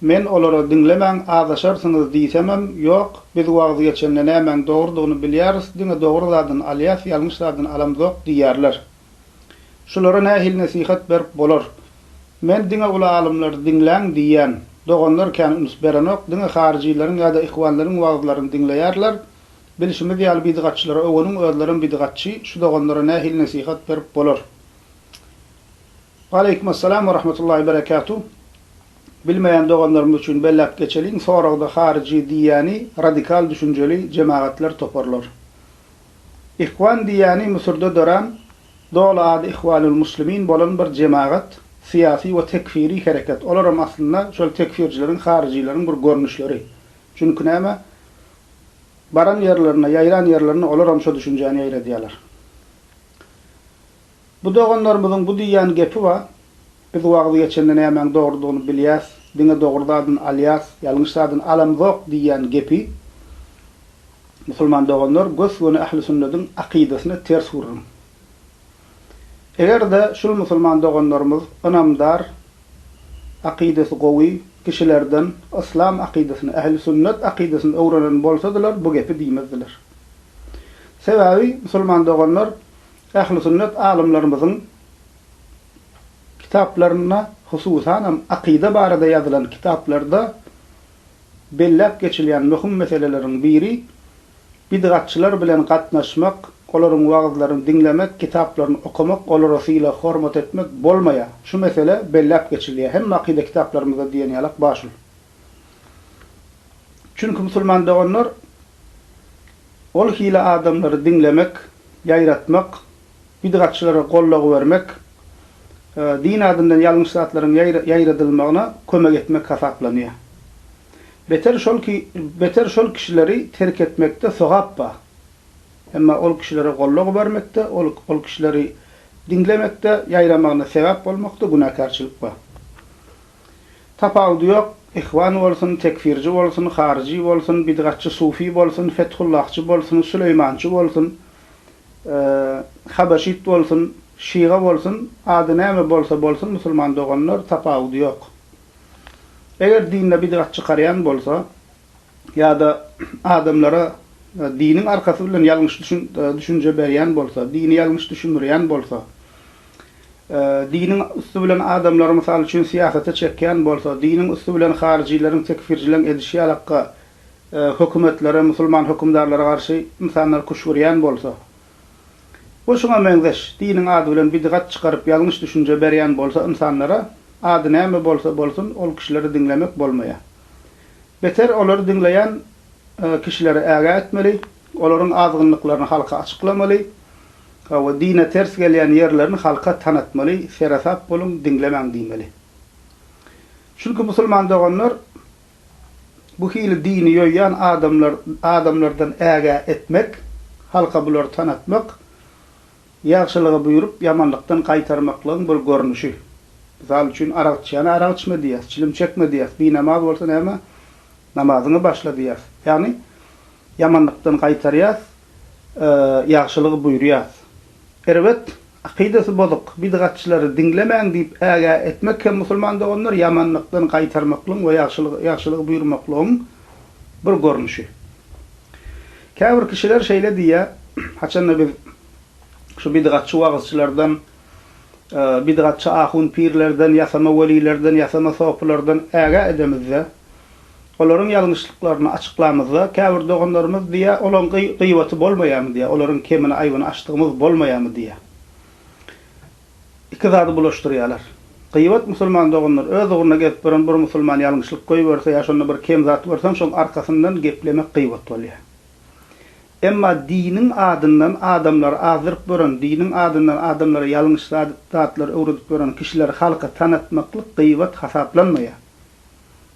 Men olara diňlemäň, azaşarsyňyz diýsemem, Ýok, biz wagyz geçende nämäň dogrudygyny bilýäris, diňe dogry zadyny alýas, ýalňyş zadyny alamzok diýýärler. Şulara nähili nesihat berip bolar? Men diňe uly alymlary diňläň diýýän. Doganlar kän üns berenok, diňe haryjylaryň ýa-da ihwanlaryň wagyzlaryny diňleýärler. Bilşimiz ýaly bidgatçylara öweniň, özlerem bidgatçy, şu doganlara nähili nesihat berip bolar? Waleýkumessalam we rahmetullahi we berekatuh. Bilmeýän doganlarymyz üçin belläp geçeliň, soragda haryjy diýýäni radikal düşünjeli jemagatlar, toparlar. Ihwan diýýäni Müsürde dörän, doly ady Ihwanul Muslimin bolan bir jemagat, syýasy we tekfiri hereket. Olaram aslynda şol tekfirçileriň, haryjylaryň bir görnüşleri. Çünki näme? Baran ýerlerinde, ýaýran ýerlerinde olaram şo düşünjäni ýaýradýarlar. Bu doganlarymyzyň bu diýýän gepi bar, Biz wagyz geçende nämäň dogrudygyny bilýäs, diňe dogry zadyny alýas, ýalňyş zadyny alamzok diýýän gepi musulman doganlar gös-göni ähli sünnediň akydasyna ters gürrüň. Eger-de şul musulman doganlarymyz ynamdar, akydasy gowy kişilerden yslam akydasyny, ähli sünnet akydasyny öwrenen bolsadylar bu gepi diýmezdiler. Sebäbi musulman doganlar Ähli sünnet alymlarymyzyň kitaplarynda, hususanam akyda barada ýazylan kitaplarda belläp geçilýän möhüm meseleleriň biri, bidgatçylar bilen gatnaşmak, olaryň wagyzlaryny diňlemek, kitaplaryny okamak, olara sylag-hormat etmek bolmaýar. Şu mesele belläp geçilýär. Hemme akyda kitaplarymyzda diýen ýalak bar şul. Çünki musulman doganlar ol hili adamlary diňlemek, ýaýratmak, bidgatçylara goldaw bermek, din adyndan ýalňyş zatlaryň ýaýradylmagyna kömek etmek hasaplanýar. Beter şol ki, beter şol kişileri terk etmekde sogap bar. Emma ol kişilere goldaw bermekde, ol, ol kişileri diňlemekde, ýaýramagyna sebäp bolmakda günäkärçilik bar. Tapawudy ýok, ihwan bolsun, tekfirji bolsun, haryjy bolsun, bidgatçy sufi bolsun, fethullahçy bolsun, süleýmançy bolsun, habaşit bolsun, şyga bolsun, ady näme bolsa bolsun musulman doganlar tapawudy ýok. Eger dinde bidgat çykarýan bolsa, ýa-da adamlara diniň arkasy bilen ýalňyş düşünje berýän bolsa, dini ýalňyş düşündirýän bolsa, diniň üsti bilen adamlary, mysal üçin, syýasata çekýän bolsa, diniň üsti bilen haryjyleriň, tekfirçileň edişi ýalakka hökümetlere, musulman hökümdarlara garşy ynsanlary küşgürýän bolsa we şuňa meňzeş diniň ady bilen bidgat çykaryp ýalňyş düşünje berýän bolsa ynsanlara, ady näme bolsa bolsun, ol kişileri diňlemek bolmaýar. Beter olary diňleýän kişileri ägä etmeli, olaryň azgynlyklaryny halka açyklamaly we dine ters gelýän ýerlerini halka tanatmaly, seresap boluň, diňlemäň diýmeli. Çünki musulman doganlar bu hili dini ýoýýan adamlar adamlardan ägä etmek, halka bulary tanatmak, Ýagşylygy buýrup, ýamanlykdan gaýtarmaklygyň bir görnüşi. Mysal üçin, arak içýäne arak içme diýýäs, çilim çekme diýýäs, binamaz bolsa näme, namazyňy başla diýýäs. Ýagny, ýamanlykdan gaýtarýas, ýagşylygy buýurýas. Erbet, akydasy bozuk, bidgatçylary diňlemäň diýip ägä etmek hem musulman doganlar ýamanlykdan gaýtarmaklygyň we ýagşylygy buýurmaklygyň bir görnüşi. Käbir kişiler şeýle diýýär, Haçanda biz şu bidgatçy wagyzçylardan, bidgatçy ahun-pirlerden, ýasama welilerden, ýasama sopylardan ägä edemizde, olaryň ýalňyşlyklaryny açyklamyzda, käbir doganlarymyz diýýär, Olaň gyýbaty bolmaýarmy diýýär, olaryň kemini-aýbyny açdygymyz bolmaýarmy diýýär. Iki zady bulaşdyrýalar. Gyýbat musulman doganlar öz ugruna gezip ýören bir musulman ýalňyşlyk goýberse ýa şonda bir kem zat görseň şoň arkasyndan geplemek gyýbat bolýa. Emma diniň adyndan adamlary azdyryp ýören, diniň adyndan adamlara ýalňyş zatlary öwredip ýören kişileri halka tanatmaklyk gyýbat hasaplanmaýa.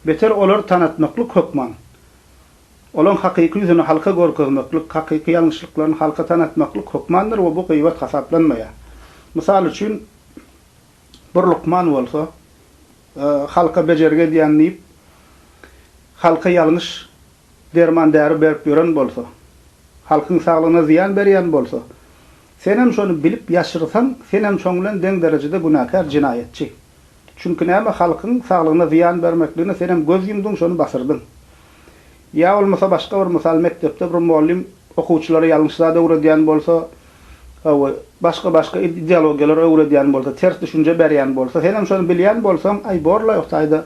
Beter olary tanatmaklyk hökman Olaň hakyky ýüzüni halka görkezmeklik, hakyky ýalňyşlyklaryny halka tanatmaklyk hökmandyr we bu gyýbat hasaplanmaýar. Mysal üçin, bir lukman bolsa, halka bejergi edýän diýip, halka ýalňyş derman-däri berip ýören bolsa, halkyň saglygyna zyýan berýän bolsa, senem şony bilip ýaşyrsaň, senem şoň bilen deň derejede günäkär, jenaýatçy. Çünki näme halkyň saglygyna zyýan bermekligine senem göz ýumdyň şony basyrdyň. Ýa bolmasa başga bir mysal mekdepde bir mugallym okuwçylara ýalňyş zat öwredýän bolsa we başga başga ideologiýalary öwredýän bolsa ters düşünje berýän bolsa senem şony bilýän bolsaň aý borlaý o taýda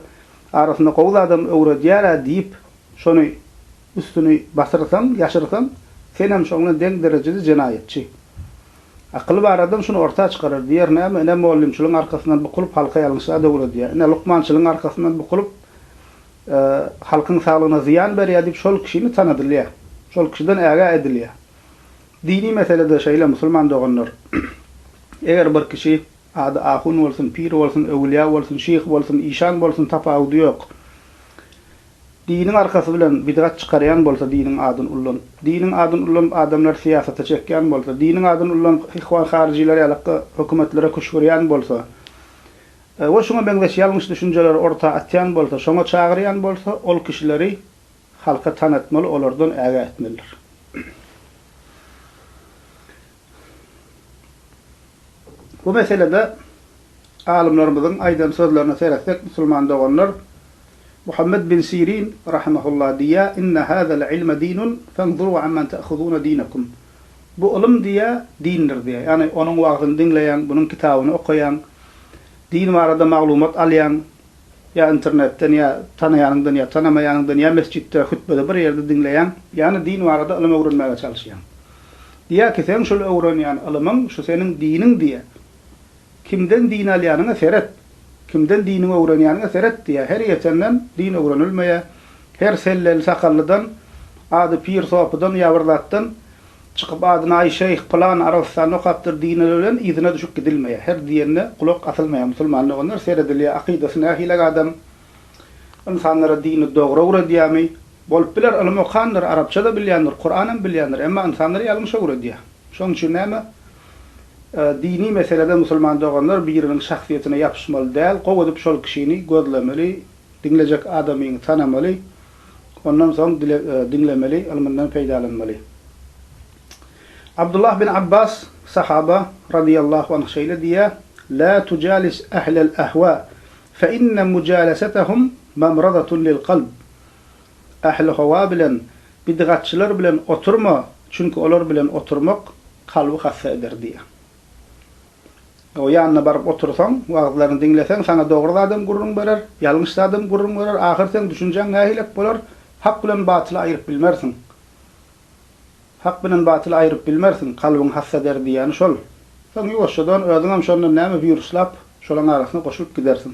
arasynda gowy zadam öwredýärä diýip şony Üstüni basyrsaň, ýaşyrsaň, senem şoň bilen deň derejede jenaýatçy. Akyly bar adam şuny orta çykarar, diýer, näme, ine, mollymçylygyň arkasyndan bukulyp, halky ýalňyşa döwredýär, ine, lukmançylygyň arkasyndan bukulyp, halkyň saglygyna zyýan berýär diýip, şol kişini tanadylýar, şol kişiden ägä edilýär. Dini meselede şeýle, musulman doganlar. Eger bir kişi, ady ahun bolsun, pir bolsun, öwülýä bolsun, şyh bolsun, işan bolsun, tapawudy ýok. Diniň arkasy bilen bidgat çykarýan bolsa diniň adyny ullanyp, diniň adyny ullanyp adamlary syýasata çekýän bolsa, diniň adyny ullanyp ihwan haryjylar ýalykky hökümetlere küşgürýän bolsa we şuňa meňzeş ýalňyş düşünjeleri orta atýan bolsa, şoňa çagyrýan bolsa ol kişileri halka tanatmaly olardan ägä etmelidir. Bu meselede alymlarymyzyň aýdan sözlerine seretsek, musulman doganlar, Muhammet bin Sirin, rahimehullah, diýýär, Inne hazal ilme dinun, fenzuru amman ta'huzuna dinekum. Bu ylym, diýýär, dindir, diýýär. Ýagny, onuň wagzyny diňleýäň, bunuň kitabyny okaýaň, din barada maglumat alýaň, Ýa internetden, ýa tanaýanyňdan, ýa tanamaýanyňdan, ýa mesjitde, hütbede bir ýerde diňleýäň, ýa-da din barada ylym öwrenmäge çalyşýaň. Diýýär ki, seň şol öwrenýän ylymyň şu seniň diniň diýýär. Kimden din alýanyňa seret, kimden diniňi öwrenýäniňe seret diýýär. Her ýetenden din öwrenilmeýär. Her selleli-sakallydan, ady pir sopydan ýa bir zatdan. Çykyp adyna aý şeýh pylan Arabystanda okapdyr diýilene bilen yzyna düşüp gidilmeýär. Her diýenine gulak asylmaýar musulman doganlar seredilýär akydasy nähilek adam ynsanlara dini dogry öwredýärmi? Bolup biler ylym okandyr arapça-da bilýändir kuranam bilýändir emma ynsanlary ýalňyş öwredýär. Şonuň üçin näme dini meselede musulman doganlar biriniň şahsyýetine ýapyşmaly däl gowy edip şol kişini gözlemeli diňlejek adamyňy tanamaly Ondan soň dile diňlemeli, ylmyndan peýdalanmaly. Abdullah bin Abbas, sahaba, radyýallahu anh şeýle diýýär, Lä tujalis ählel ähwa, fe inne mujalasetahum mamradatun lil kalb. Ähli howa bilen, bidgatçylar bilen oturma, çünki olar bilen oturmak kalby hassa eder diýýär. O ýanyna baryp otursaň, wagyzlaryny diňleseň, saňa dogry zadam gürrüň berer, ýalňyş zadam gürrüň berer, ahyr seň düşünjäň nähilek bolar, hak bilen batyly aýryp bilmersiň. Hak bilen batyly aýryp bilmersiň, kalbyň hassa der diýýäni şol. Soň ýuwaşjadan özüňem şondan näme buýruslap, şolaň arasyna goşulyp gidersiň.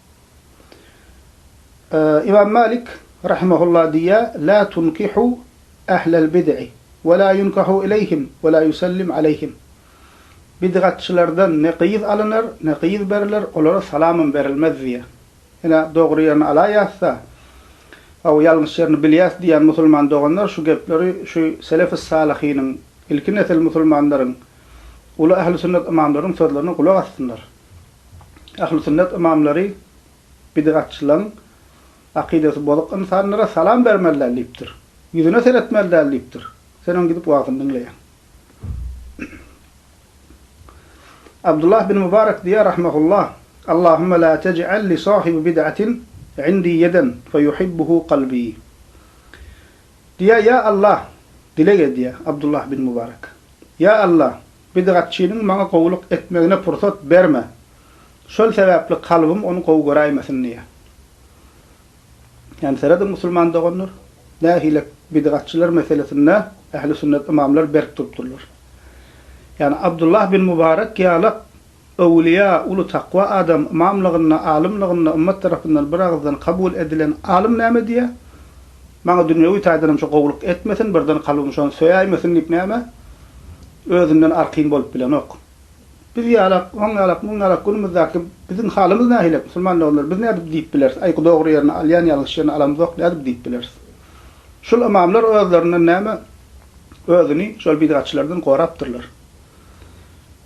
Ymam Malik rahimehullah diýýär, Lâ tunkihu ehlel bid'i we lâ yunkahu ileýhim we lâ yusellim aleýhim. Bid'atçylardan ne gyz alynar, ne gyz beriler, olara salamam berilmez diýýär. Ine, dogry ýerini alaýasda, aw, ýalňyş ýerini bilýäs diýýän musulman doganlar şu gepleri şu selef-i salyhynyň, ilki nesil musulmanlaryň, uly ähli sünnet ymamlaryň sözlerine gulak assynlar. Ählüsünnet ymamlary bidatçylaryň, akydasy bozuk ynsanlara salam bermeli däl diýipdir. Ýüzüne seretmeli däl diýipdir. Sen onuň gidip wagzyny diňleýäň. Abdullah bin Mubarek diýýär rahmehullah, Allahümme la tej'al li sahibi bid'atin indi ýeden fe yuhibbuhu kalbi. Diýýär, Ýa Allah, dileg edýär Abdullah bin Mubarek. Ýa Allah, Bidgatçynyň maňa gowulyk etmegine pursat berme. Şol sebäpli kalbym ony gowy göräýmesin diýýär. Ýani serediň musulman doganlar, nähile bidgatçylar meselesinde ähli sünnet ymamlar berk durupdyrlar. Ýani Abdullah bin Mubarek ýalak Öwülýä, uly takwa adam, ymamlygynda, alymlygynda ymmat tarapyndan bir agyzdan kabul edilen alym näme diýýär? Maňa dünýewi taýdan hem şu gowulyk etmesin, birden kalbym şony söýäýmesin diýip näme? Özünden arkin bolup bilenok. Biz ýalak, oň ýalak, muň ýalak günümizdäki biziň halymyz nähilek, musulman doganlar, biz nädip diýip bileris, aý, dogry ýerini alýan, ýalňyş ýerini alamyzok nädip diýip bileris? Şul ymamlar özlerinden näme, özüni şol bidgatçylardan gorapdyrlar.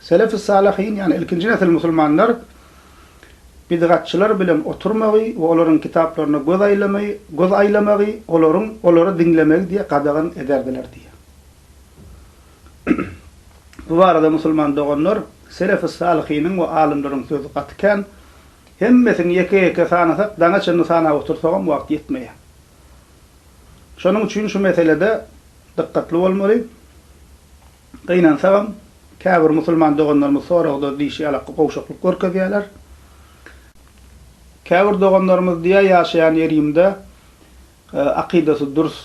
Selef-i Salyhin, ýagny ilkinji nesil musulmanlar bidgatçylar bilen oturmagy we olaryň kitaplaryna göz aýlamagy, göz aýlamagy, olaryň, olary diňlemegi diýe gadagan ederdiler diýýär. Bu barada musulman doganlar, Selef-i Salyhiniň we alymlaryň sözi gaty kän, hemmesini ýeke-ýeke sanasak daňa çenli sanap otursagam wagt ýetmeýär. Şonuň üçin şu meselede dykgatly bolmaly. Gynansagam, käbir musulman doganlarymyz soragda diýşi ýalak gowşaklyk görkezýärler. Käbir doganlarymyz diýýär, ýaşaýan ýerimde akydasy dürs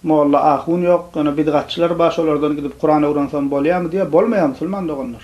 molla, ahun ýok, ýöne bidgatçylar bar, şolardan gidip Kuran öwrensem bolýarmy diýýär. Bolmaýar musulman doganlar.